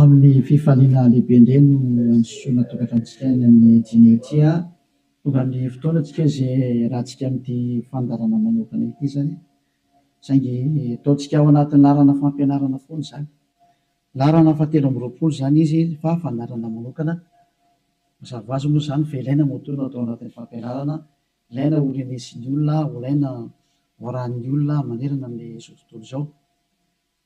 Amin'ny fifaliana lehibe indray no androsoana tokantranontsika any amin'ny Dimy ity a! Tonga ny fotoana antsika izay hiarahantsika amin'ity fandaharana manokana ity izany, saingy ataontsika ao anatin'ny laharana fampianarana foana izany. Laharana fahatelo amby roapolo izany izy fa fandaharana manokana. Mazava ho azy moa izany fa ilaina moa toa no atao anatin'ny fampianarana, ilaina ho renesin'ny olona, ho ilaina ho arahin'ny olona manerana amin'izao tontolo izao.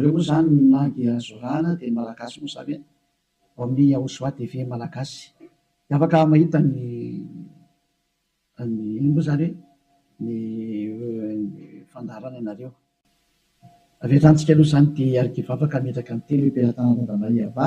Reo moa zany na dia zorana dia ny malagasy moa zany e! Ao amin'ny Yahoshua TV malagasy dia afaka mahita ny ny inona moa zany hoe ny fandaharana anareo. Avy hatrany tsika aloha zany tia hiarikivavaka hametraka ny teny hoe Mpiaratanana Tandrembahiava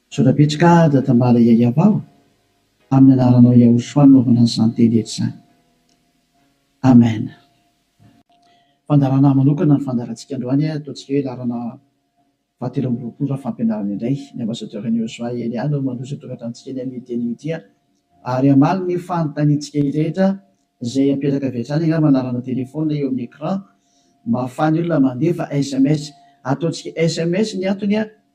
Misaotra betsaka Dadambala Yayavao amin'ny anaranao Yahoshua nanaovana an'izany teny rehetra izany. Amen. Fandaharana manokana ny fandaharantsika androany a, ataontsika hoe laharana fahatelo amby roapolo raha fampianarana indray. Ny Ambassadeur an'i Yosua Elia no mandroso atongatra antsika eny amin'ity anio ity a. Ary hamaly ny fanontaniantsika rehetra izay apetraka avy hatrany angamba ny laharana téléphone eo amin'ny écran mba ahafahan'ny olona mandefa sms. Ataontsika sms ny antony a.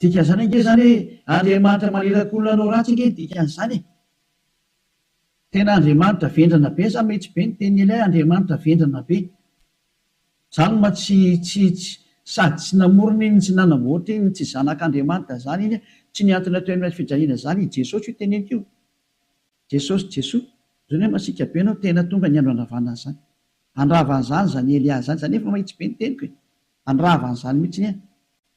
Dikan'izany ange izany hoe Andriamanitra maniraka olona hanao ratsy ange ny dikan'izany e! Tena Andriamanitra vendrana be sa mety be ny tenin'i Elia Andriamanitra vendrana be? Izany ma tsy tsy tsy sady tsy namorona iny tsy nanamboatra iny tsy zanak'Andriamanitra izany iny tsy nihantona teo amin'ny hazofijaliana izany i Jesosy io teneniko io Jesosy Jesoa izao nefa masiaka be ianao tena tonga ny andro handravana an'izany handrava an'izany izany Elia izany izany efa mahitsy be ny teniko e! handrava an'izany mihitsy anie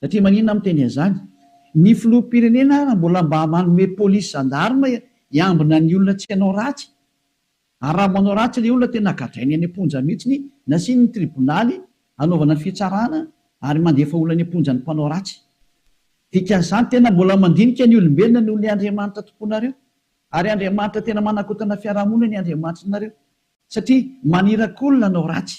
Satria maninona aho miteny an'izany? Ny filoham-pirenena ary mbola mba manome polisy zandarma hiambina ny olona tsy hanao ratsy? Ary raha manao ratsy ilay olona tena gadrainy any am-ponja mihitsy, nasiany ny tribonaly hanaovana ny fitsarana ary mandefa olona any am-ponja ny mpanao ratsy. Dikan'izany tena mbola mandinika ny olombelona noho ilay Andriamanitra tompoinareo. Ary Andriamanitra tena manakotana fiarahamonina ny Andriamanitrinareo. Satria maniraky olona hanao ratsy.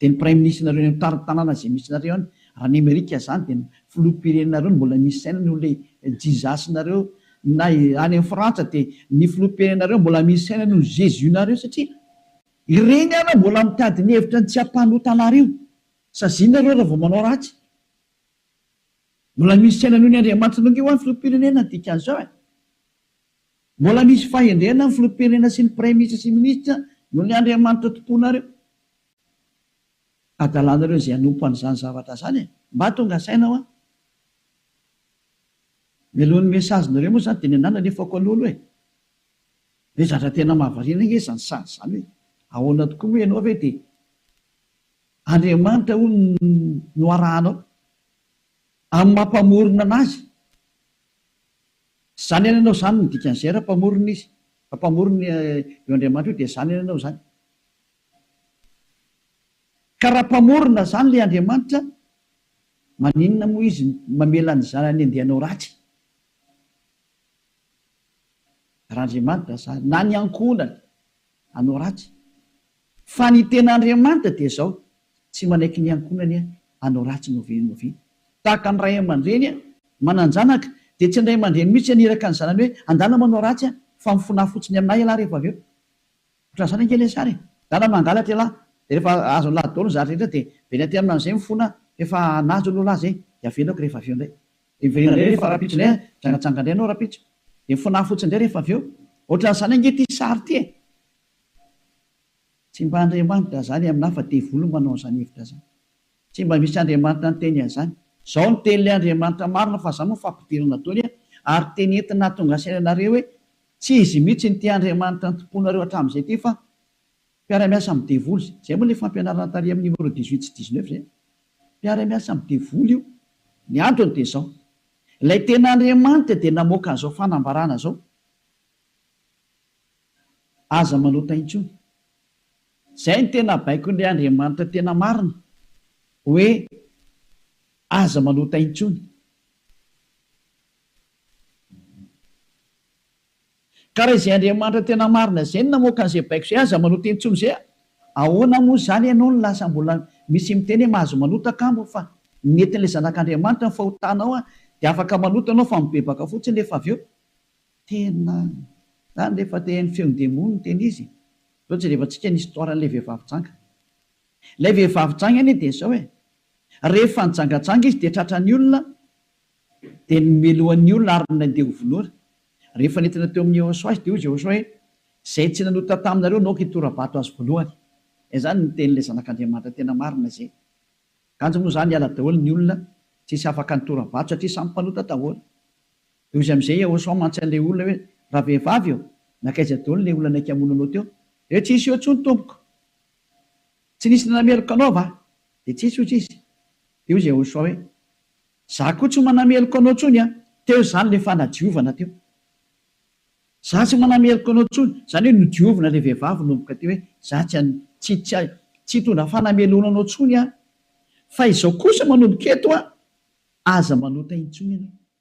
Dia ny praiminisitrinareo eny amin'ny tanàna izay misy nareo any raha ny amerika zany dia ny filoham-pirenenareo no mbola misy saina noho ilay Jesus nareo na any amin'ny frantsa dia ny filoham-pirenenareo mbola misy saina noho ny Jesus nareo satria ireny ary mbola mitady ny hevitra ny tsy hampanota anareo saziana ireo raha vao manao ratsy mbola misy saina noho ny andriamanitra nareo ve ho'a ny filoham-pirenena ny dikan'izao e. Mbola misy fahendrena ny filoham-pirenena sy ny praiminisitra sy ny minisitra noho ny andriamanitra tomponareo adalanareo izay hanompo an'izany zavatra izany e! Mba tonga saina hoa! Mialohan'ny message-nareo moa izany dia ny anah nalefako aloha aloha e! Ve zatra tena mahavariana ange izany sazy izany hoe ahoana tokoa moa ianao ve dia andriamanitra hono no arahanao amin'ny maha mpamorona anazy? Tsy zany any anao zany ny dikan'izay raha mpamorona izy fa mpamorona io Andriamanitra io dia zany any anao zany ka raha mpamorona zany ilay Andriamanitra maninona moa izy mamela ny zanany andeha hanao ratsy raha Andriamanitra zany na ny ankohonany hanao ratsy Fa ny tena Andriamanitra dia izao, tsy manaiky ny ankohonany hanao ratsy novianoviana. Tahaka ny ray aman-dreny manan-janaka, dia tsy ny ray aman-dreny mihitsy haniraka ny zanany hoe andala manao ratsy fa mifonaha fotsiny amin'ahy ialahy rehefa avy eo. Ohatran'ny zany ange ilay sary e! Dala mangalatra ialahy, dia rehefa azony lahy daholo ny zary rehetra dia very aty amin'ahy amin'izay mifona efa nahazo aloha lahy izay, dia avelako rehefa avy eo indray. Dia miverina indray rehefa rahampitso indray an, mijangajanga indray ianao rahampitso, dia mifonaha fotsiny indray rehefa avy eo. Ohatran'izany ange ity sary ity e! Tsy mba Andriamanitra zany aminah fa devoly manao an'zany hevitra zany. Tsy mba misy Andriamanitra niteny an'zany. Zao no tenin'ilay Andriamanitra marina fa za moa fampidirana dôly a! ary teny entina hahatonga saina anareo hoe tsy izy mihitsy no tia Andriamanitra nitompoanareo hatramin'izay ty fa mpiara-miasa amin'ny devoly zay. Zay moa ilay fampianarana tary amin'ny numéro dix huit sy dix neuf zay. Mpiara-miasa amin'ny devoly io. Ny antony dia zao. Ilay tena Andriamanitra dia namoaka an'izao fanambarana zao. aza manota intsony. Zay no tena baikon'ilay Andriamanitra tena marina hoe aza manota intsony. Ka raha izay Andriamanitra tena marina zay no namoaka an'izay baiko zay aza manota intsony zay ahoana moa zany ianao no lasa mbola misy miteny hoe mahazo manota kamo fa netin'ilay zanak'Andriamanitra ny fahotanao dia afaka manota ianao fa mibebaka fotsiny rehefa avy eo. Tena. Zany re fa te haino feon demony ny tena izy e. Zao jerevantsika ny histoire an'ilay vehivavy janga. Ilay vehivavy janga anie dia zao e. Rehefa nijangajanga izy dia tratran'ny olona dia nomelohan'ny olona ary nandeha ho vonoina. Rehefa nentina teo amin'i Jehosoa izy dia hoy Jehosoa hoe izay tsy nanota taminareo naoka hitora-bato azy voalohany. Zay zany ny tenin'ilay zanak'Andriamanitra tena marina zay. Kanjo moa zany hiala daholo ny olona, tsisy afaka nitora-bato satria samy mpanota daholo. Dia hoy izy amin'izay ao Somme mantsy an'ilay olona hoe, Ravehivavy ô, nankaiza daholo ilay olona niaiky hamono anao teo? Dia tsy nisy eo intsony tompoko. Tsy nisy nanameloka anao va? Dia tsis, hoy izy. Dia hoy izy Yahoshuah hoe, Za koa tsy manameloka anao intsony an! Teo izany ilay fanadiovana teo. Za tsy manameloka anao intsony. Izany hoe nodiovina ilay vehivavy nomboka teo hoe, Za tsy an, tsy, tsy, tsy hitondra fanamelohana anao intsony aho. Fa izao kosa manomboka eto an, aza manota intsony ianao.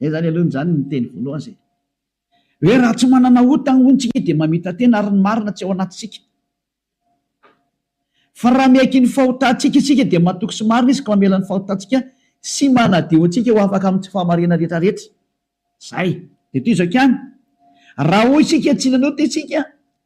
Zay zany aloha zany ny teny voalohany zay. Hoe raha tsy manana ota hono tsika dia mamita-tena ary ny marina tsy ao anatintsika. Fa raha miaiky ny fahotantsika isika dia matoky sy marina izy ka mamela ny fahotantsika sy manadio antsika ho afaka amin'ny tsy fahamariana rehetrarehetra. Zay. Dia toy izao ihany. Raha hoy isika tsy nanota isika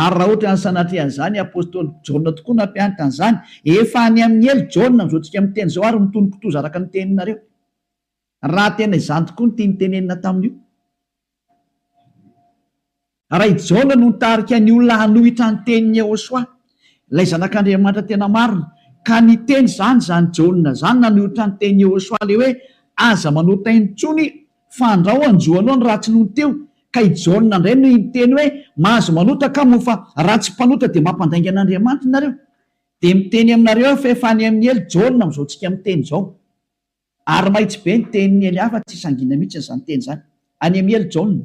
Ary raha ohatra ny sanatria an'izany apostoly Jaona tokoa nampianatra an'izany, efa any amin'ny ela Jaona amin'izao tsika miteny izao ary mitony kitoza araka ny teninareo. Raha tena izany tokoa ny tiany tenenina tamin'io. Raha i Jaona no nitarika ny olona hanohitra ny tenin'i Yehosua, ilay zanak'Andriamanitra tena marina, ka niteny izany izany Jaona izany nanohitra ny tenin'i Yehosua ilay hoe aza manota intsony Fandrao anjo aloha ny ratsy nony teo ka i Jaona indray no hiteny hoe mahazo manota ka moa fa raha tsy mpanota dia mampandainga an'Andriamanitra nareo dia miteny aminareo aho fa efa any amin'ny helo Jaona amin'izao tsika miteny izao ary mahitsy be ny tenin'ny hely hafa tsy sangina mihitsy izany teny izany any amin'ny helo Jaona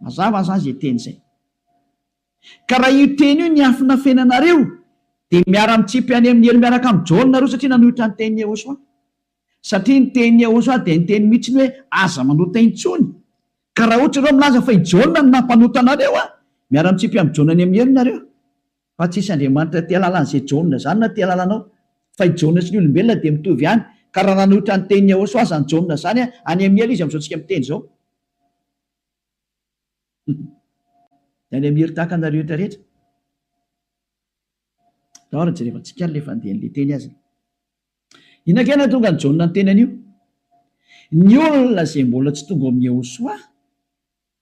Mazava zany zay teny zay. Ka raha io teny io niafina fiainanareo dia miara mitsipy any amin'ny helo miaraka amin'i Jaona nareo satria nanohitra ny tenin'i Yehosua. Satria ny tenin'i Yehosua dia niteny mitsiny hoe aza manota intsony. Ka raha ohatra ianareo milaza fa i Jaona no nampanota anareo an! miara mitsipy amin'i Jaona any amin'ny helo nareo. Fa tsisy Andriamanitra aty alalan'izay Jaona zany na ty alalanao. Fa i Jaona sy ny olombelona dia mitovy ihany. Ka raha nanohitra ny tenin'i Yahoswa aza ny Jaona zany an, any amin'ny hela izy amin'izao tsika miteny izao. Dia any amin'ny hery tahaka anareo rehetra rehetra. Tao ary jerevantsika ary le fandehan'le teny azy. Inona kay nahatonga an'i Jaona niteny an'io? Ny olona izay mbola tsy tonga ao amin'i Yahoswa.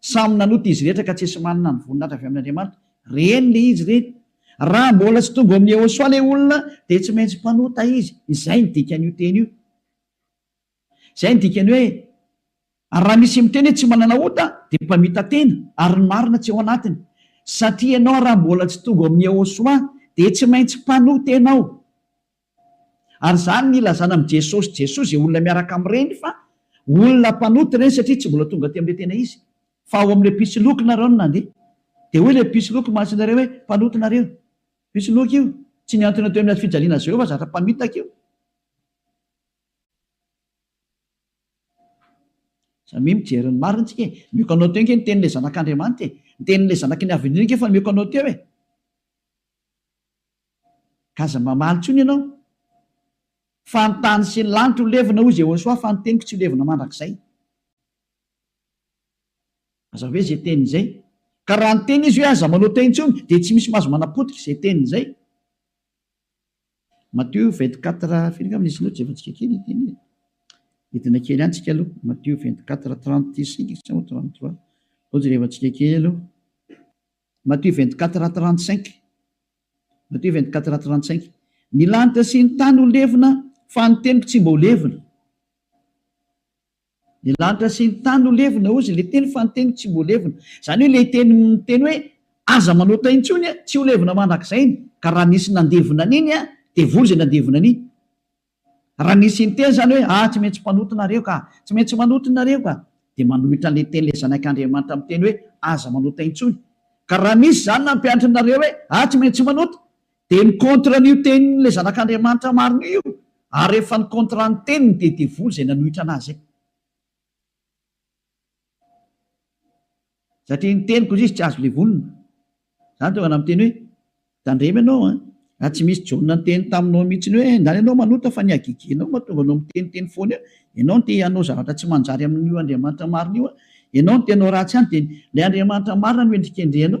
Samy nanota izy rehetra ka tsisy manana ny voninahitra avy amin' Andriamanitra. Reny le izy reny. Raha mbola tsy tonga ao amin' Yehôsoa le olona dia tsy maintsy mpanota izy. Izay ny dikan' io teny io. Izay ny dikan' hoe raha misy miteny hoe tsy manana ota dia mpamita-tena ary ny marina tsy ao anatiny. Satria ianao raha mbola tsy tonga ao amin' Yehôsoa dia tsy maintsy mpanota ianao. Ary izany no ilazana amin'i Jesosy Jesosy izay olona miaraka amin'ireny fa olona mpanota ireny satria tsy mbola tonga aty amin'ilay tena izy fa ao amin'ilay mpisoloky nareo no nandeha. Dia hoy ilay mpisoloky maso anareo hoe mpanota nareo. Mpisoloky io. Tsy mihantona teo amin'ny hazofijaliana Jehovah zatra mpamitaka io. Samia mijery ny marina tsika e. Mioko anao teo nge ny tenin'ilay zanak'Andriamanitra e. Ny tenin'ilay zanaky ny havendrena nge efa mioko anao teo e. Aza mamaly intsony ianao fa ny tany sy ny lanitra ho levona hoy Jehosoa fa ny teniko tsy ho levona mandrakizay. Aza ve izay teny izay. Ka raha niteny izy hoe aza manota intsony dia tsy misy mahazo manapotika izay teny izay. Matio 24 firy angamba nisy loatra efantsika kely io teny io. Hidina kely any tsika aloha. Matio 24 36 sa 33. Ohatry ny efantsika kely aloha. Matthieu vingt quatre a trente cinq Matthieu vingt quatre a trente cinq Ny lanitra sy ny tany ho levona fa ny teniko tsy mba ho levona Ny lanitra sy ny tany ho levona hozy ilay teny fa ny teniko tsy mba ho levona Izany hoe ilay teny miteny hoe aza manota intsony tsy ho levona mandrakizay ny ka raha nisy nandevona an'iny dia voa izay nandevona an'iny Raha nisy inteny izany hoe, Ah, tsy maintsy mpanota nareo ka! Tsy maintsy manota nareo ka! dia manohitra an'ilay teny ilay Zanak' Andriamanitra miteny hoe, Aza manota intsony. Ka raha misy izany nampianatra anareo hoe, Ah, tsy maintsy manota! dia ny contre an'io tenin'ilay Zanak' Andriamanitra marina io, ary rehefa ny contre ny teniny dia devoly izay nanohitra anà izay. Satria ny teniko hoy izy tsy azo levonina. Izany tonga namiteny hoe, Tandremo ianao an! Raha tsy misy John niteny taminao mihitsiny hoe, Ndany ianao manota fa ny hagigianao mahatonga anao miteniteny foana eo, ianao no te hanao zavatra tsy manjary amin'io Andriamanitra marina io an! Ianao no te hanao ratsy ihany dia ilay Andriamanitra marina no hendrikendrehanao.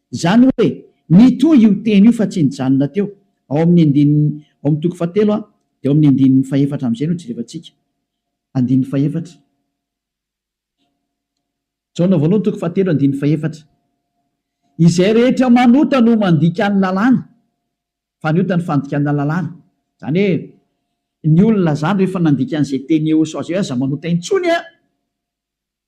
Izany hoe, mitohy io teny io fa tsy nijanona teo, ao amin'ny andininy, ao amin'ny toko fahatelo a, dia ao amin'ny andininy fahefatra amin'izay no jerevantsika. Andininy fahefatra. Jaona voalohany toko fahatelo andininy fahefatra. Izay rehetra manota no mandika ny lalàna, fa ny ota ny fandikana lalàna. Izany hoe, ny olona izany rehefa nandika an'izay teny eosao izay hoe aza manota intsony a!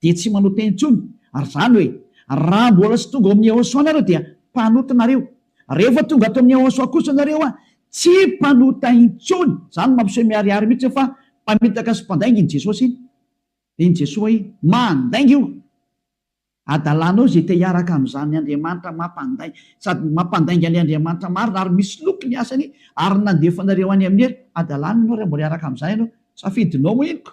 dia tsy manao teny intsony, ary izany hoe raha mbola tsy tonga ao amin'ny Yahoshuah nareo dia mpanota nareo, rehefa tonga ato amin'ny Yahoshuah kosa nareo a, tsy mpanota intsony, izany mampiseho miharihary mihitsy hoe fa mpamitaka sy mpandainga iny Jesosy iny, dia iny Jesoa iny mandainga io adalanao izay te hiaraka amin'izany Andriamanitra mampandai, sady mampandainga an'ilay Andriamanitra marina ary misoloky ny asany ary nandefa anareo any amin'ny hery, adalanao ianao raha mbola hiaraka amin'izany ianao, safidinao moa iny ko,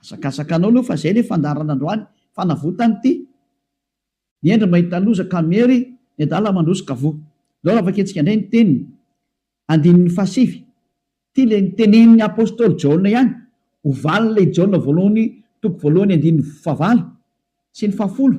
Hazakazakanao aloha fa zay le fandaharana androany, fanavotany ty ny hendry mahita loza ka miery ny adala mandroso ka voa. Ndao raha vakintsika indray ny teniny, andininy fahasivy, ty le nitenenin'ny apostoly Jaona ihany, ho valin'ilay Jaona voalohany toko voalohany andininy fahavalo sy ny fahafolo.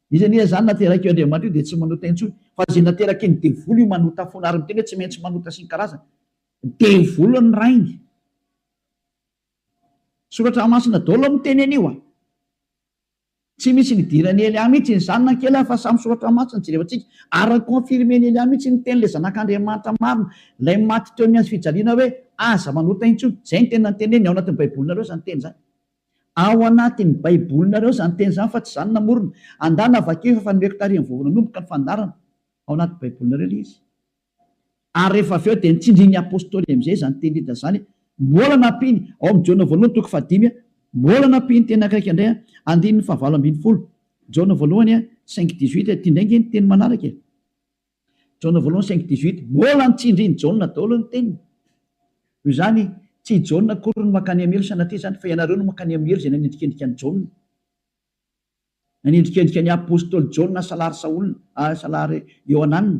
Izy anie izany naterak'io Andriamanitra io dia tsy manota intsony fa izay naterakin'ny devoly io manota foana ary miteny hoe tsy maintsy manota sy ny karazany. Devoly ny rainy. Soratra masina daholo no miteny an'io a! Tsy misy nidiran'i Elia mihitsy iny zanany kely a! Fa samy soratra masina no jerevantsika ary ni-confirmen'i Elia mihitsy ny tenin'ilay zanak'Andriamanitra marina, ilay maty teo amin'ny hazo fijaliana hoe aza manota intsony. Izay ny teny nanteneniny, ao anatin'ny baibolinareo izany teny izany. Ao anatin'ny Baibolinareo izany teny izany fa tsy izaho no namorona. Andana vakio efa efa nomeko taorian'ny voalohany nanomboka ny fandaharana. Ao anaty Baibolinareo ilay izy. Ary rehefa avy eo dia nitsindrin'ny Apostoly amin'izay izany teny Lida izany. Mbola nampiany, ao amin'ny Jaona voalohany toko fahadimy, mbola nampiany teny ankaika indray, andininy fahavalo ambin'ny folo, Jaona voalohany cinq dix-huit, ity indray ange ny teny manaraka e. Jaona voalohany cinq dix huit, Mbola ny tsindrin'i Jaona daholo ny teniny. Noho izany, tsy i Jaona akory no mankany amin'ny helo sanatria izany, fa ianareo no mankany amin'ny helo izay nanendrikendrika an'i Jaona. Nanendrikendrika ny apostoly Jaona salary Saola, salary Iohanana.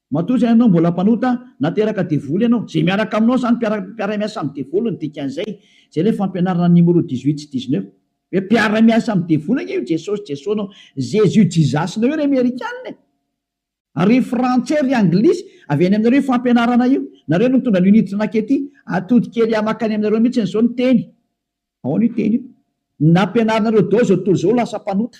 Matoa izay ianao mbola mpanota, nateraka devoly ianao, izay miaraka aminao izany mpiara-miasa amin'ny devoly no dikan'izay, izay ilay fampianarana an'i Nimoro dix huit sy dix neuf. Hoe mpiara-miasa amin'ny devoly ange io Jesosy Jesosnao, Jésus Jizasinao io ry Amerikana e! Ry Frantsay, ry Anglisy, avy any aminareo io fampianarana io, nareo no nitondra an'io Niditra nakety atody kely ahy makany aminareo mihitsiny izao ny teny, ahoana io teny io? Ny nampianarinareo daholo izao tontolo izao ho lasa mpanota.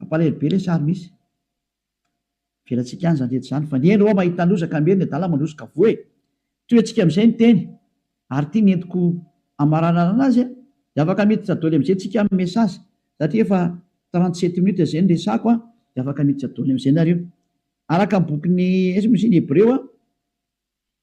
Mampalahelo be lesy ary misy. Avelatsika any zany rehetra zany fa ny eny rô mahita loza ka miery ny adala mandroso ka voa e! Toy antsika amizay ny teny ary ity nentiko amaranana azy a! De afaka miditra doly amizay tsika am message satria efa trente sept minutes zay ny resako a! De afaka miditra doly amizay nareo araka ny bokin'ny ins moa izy iny hebreo a!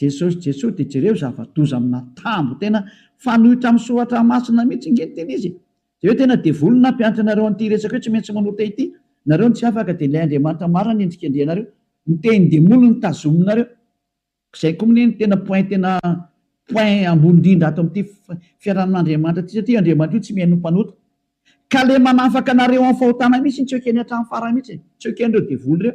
Jesosy Jesosy de jereo zava-doza amina tambo tena fanoitra am soratra masina mitsy nge ny tena izy e! de hoe tena devoly ny nampianatra anareo anty resaka io tsy maintsy manota ity nareo no tsy afaka de ilay Andriamanitra marina ny endrikendrihanareo ny tehin demoly no tazominareo zay ko mne no tena point tena point ambony indrindra ato amty fiarahamin Andriamanitra ty satria io Andriamanitra io tsy mihaino ny mpanota ka le manafaka anareo am fahotana mitsy tsy ekeny atram farany mitsy e! tsy ekenreo devoly reo.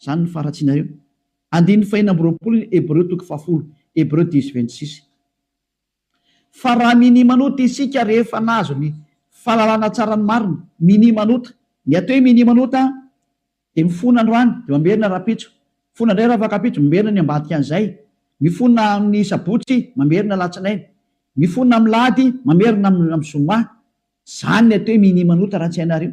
Izany no faharatsianareo. Andininy fahenina amby roapolo ny Hebreo toko fahafolo, Hebreu dix vingt six. Fa raha minimanota isika rehefa nahazo ny fahalalana tsara ny marina, minimanota, ny atao hoe minimanota dia mifona androany dia mamerina rahampitso, mifona indray rafakampitso, mamerina ny ambadikan'izay, mifona amin'ny sabotsy, mamerina alatsinainy, mifona amin'ny lahady, mamerina amin'ny zoma. Izany ny atao hoe minimanota raha tsy hainareo.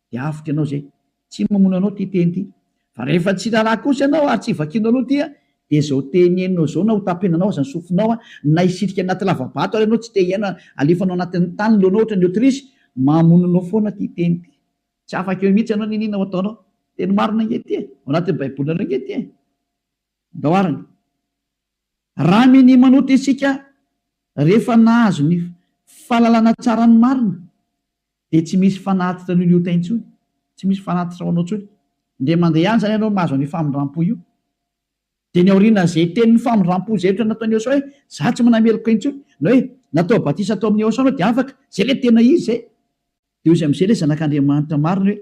dia avotra ianao izay. Tsy mamono anao ity teny ity. Fa rehefa tsy raharaha kosa ianao ary tsy vakianao aloha ity dia izao teny henonao izao na hotapenanao aza ny sofinao na hisitrika anaty lavabato ary ianao tsy te hiaina alefanao anatin'ny tany ny lohanao ohatran'ny autruche, mamono anao foana ity teny ity. Tsy afaka eo mihitsy ianao n'inona ho ataonao. Teny marina ange ity e! Ao anatin'ny baibolinareo ange ity e! Andao arany. Raha minia manota isika rehefa nahazo ny fahalalana tsara ny marina dia tsy misy fanatitra an'io liota intsony, tsy misy fanatitra ho anao intsony. Indray mandeha any izany ianao mahazo an'io famindram-po io. Dia ny aorian'izay tenin'ny famindram-po izay ohatra nataon'i Eosaoa hoe, izaho tsy manameloka intsony, na hoe natao batisa tao amin'i Eosaoa ianao dia afaka, izay ilay tena izy izay. Dia hoy izy amin'izay ilay zanak'Andriamanitra marina hoe,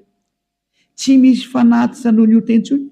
Tsy misy fanatitra noho ny ota intsony.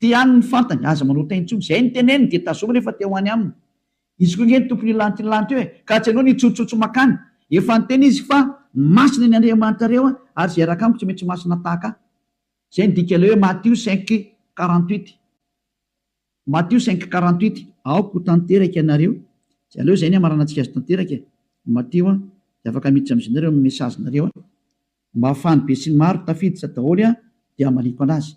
Te ihany ny fantany, aza manao tain tsony, zay ny teneniny dia tazominy efa te ho any aminy izy koa nge ny tompony hilanty ny lanty eo e, ka tsy anao ny hitsotsotso makany, efa niteny izy fa masina ny Andriamanitrareo a, ary zay hiaraka amiko tsy maintsy masina tahaka ahy, zay ny dika ilay hoe Matio cinq quarante huit, Matio cinq quarante huit. Aoka ho tanteraka ianareo, tsy aleo izay ny hamaranantsika azy tanteraka e, Matio a, dia afaka miditra amin'izy nareo amin'ny message nareo a, mba ahafahan'ny besinimaro tafiditra daholo a, dia hamaliako anazy.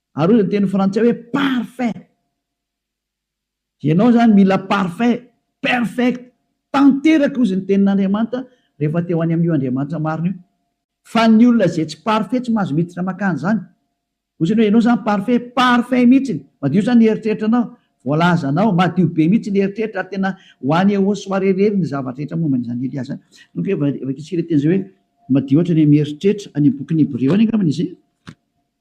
Ary hoy ny teny frantsay hoe parfait. Ianao izany mila parfait, perfect, tanteraka hozy ny tenin'Andriamanitra rehefa te ho any amin'io Andriamanitra marina io. Fa ny olona izay tsy parfait tsy mahazo miditra makany izany. Hoy izany hoe ianao izany parfait, parfait mihitsy, madio izany ny eritreritranao, voalazanao, madio be mihitsy ny eritreritra ary tena ho any au soir irery ny zavatra rehetra momba an'izany Elia izany. Donc hoe vakintsika ilay teny izay hoe madio hatrany amin'ny eritreritra, any amin'ny bokin'ny Hebreo any angambany izay.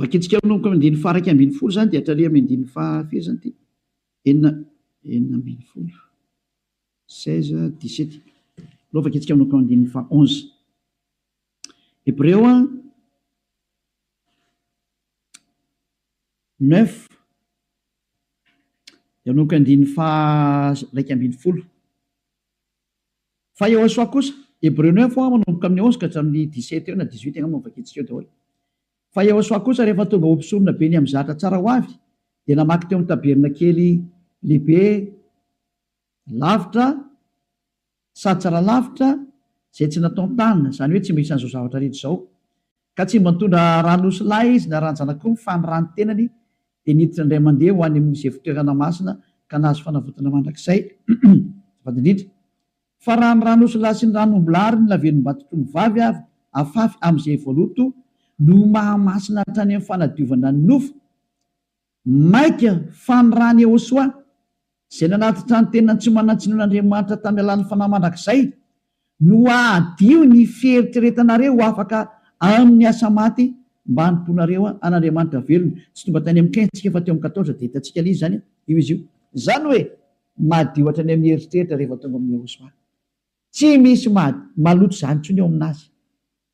Vakintsika manomboka amin'ny andininy faha-iraika ambin'ny folo izany dia hatraria amin'ny andininy faha firy izany ity? Enina enina ambin'ny folo. Seize, dix-sept. Aleo vakintsika manomboka amin'ny andininy faha onze. Hebreo a, neuf dia manomboka andininy faha iraika ambin'ny folo. Fa Yehosua kosa, Hebreo neuf ho'a manomboka amin'ny onze ka hatramin'ny dix-sept eo na dix-huit angamba no vakintsika eo daholo. Fa Yehosua kosa rehefa tonga ho mpisorona be ny amin'ny zahatra tsara ho avy dia namaky teo amin'ny tabernakely lehibe lavitra sady tsara lavitra izay tsy nataon-tanana, izany hoe tsy mba isan'izao zavatra rehetra izao, Ka tsy mba nitondra ran'osilahy izy na ran-janak'omby, fa ny ran'ny tenany, dia niditra indray mandeha ho any amin'izy evo-toerana masina, ka nahazo fanavotana mandrakizay. Azafady indrindra. Fa raha ny ran'osilahy sy ny ran'ombilahy ary ny lavenom-baton-tromivavy avy afafy amin'izay voaloto no maha masina hatrany amin'ny fanadiovana ny nofo, Maika fa ny rany Yehosoa, izay nanatitra ny tenany tsy manan-tsiny ho an'Andriamanitra tamin'ny alalan'ny fanahy mandrakizay, no hahadio ny fieritreretanareo ho afaka amin'ny asa maty mba hanompoanareo an'Andriamanitra velona. Tsy tonga tany amin'ny Qin tsika fa teo amin'ny Quatorze, dia hitantsika an'iza izany io izy io. Izany hoe, madio hatrany amin'ny eritreritra rehefa tonga amin'i Yehosoa. Tsy misy maloto izany intsony eo amin'Azy.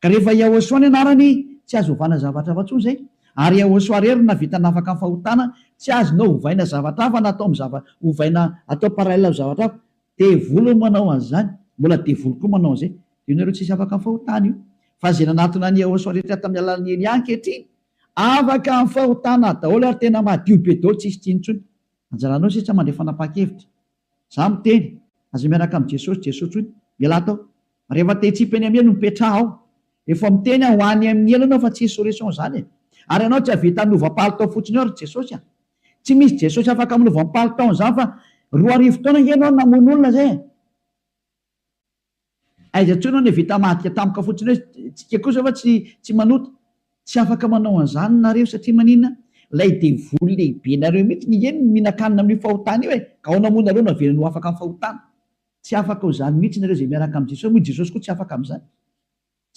Ka rehefa Yahosua ny anarany tsy azo ovana zavatra hafa tsony zay, ary Yahosua rery no navita nafaka ny fahotana, tsy azonao hovaina zavatra hafa na atao am zava hovaina atao parallel am zavatra hafa, devoly no manao anzany, mbola devoly koa manao anzay, de io nareo tsisy afaka am fahotana io, fa ze nanatona an Yahosua rehetra tam alalan Elia ankehitriny afaka am fahotana daoly ary tena madio be daoly tsisy tsiny tsony, anjaranao sisa mandray fanapakevitra Za miteny, aza miaraka amin'i Jesosy Jesosy intsony, ialahy tao. Rehefa te hitsipa eny amin'ny elo no mipetraha ao. Efa miteny aho ho any amin'ny elo ianao fa tsy hisy solution izany e. Ary ianao tsy hahavita hanova palitao fotsiny eo ry Jesosy a. Tsy misy Jesosy afaka manova ny palitaon'izany fa roa arivo taona ange ianao no namono olona izay e. Aiza intsony hono vita madika tampoka fotsiny hoe tsika kosa va tsy tsy manota? Tsy afaka manao an'izany nareo satria maninona? Ilay devoly lehibe nareo mihitsy ny eny mihinan-kanina amin'io fahotana io e! Ka aona moa nareo no avelany ho afaka amin'ny fahotana? Tsy afaka ho izany mihitsy nareo izay miaraka amin'i Jesosy moa i Jesosy koa tsy afaka amin'izany.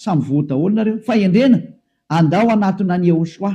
Samy voa daholo nareo. Fahendrena! Andao hanatona an'i Yehoshuah.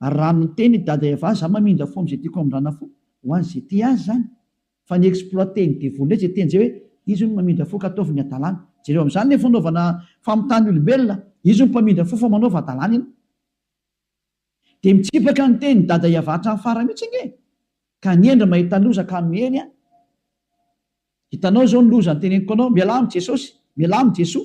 Ary raha miteny i Dada Eva za mamindra fo amzay tiako amindrana fo ho an ze tia azy zany fa ny exploiter ny devoly ndray ze teny zay hoe izy hono mamindra fo ka ataovy ny adalany jereo amzany le fanaovana famitany olombelona izy hono mpamindra fo fa manaova adalany ianao de mitsipaka ny teny Dada Eva hatram farany mitsy ange ka ny hendry mahita loza ka miely an hitanao zao ny loza ny teneniko anao mialà am jesosy mialà am jesoa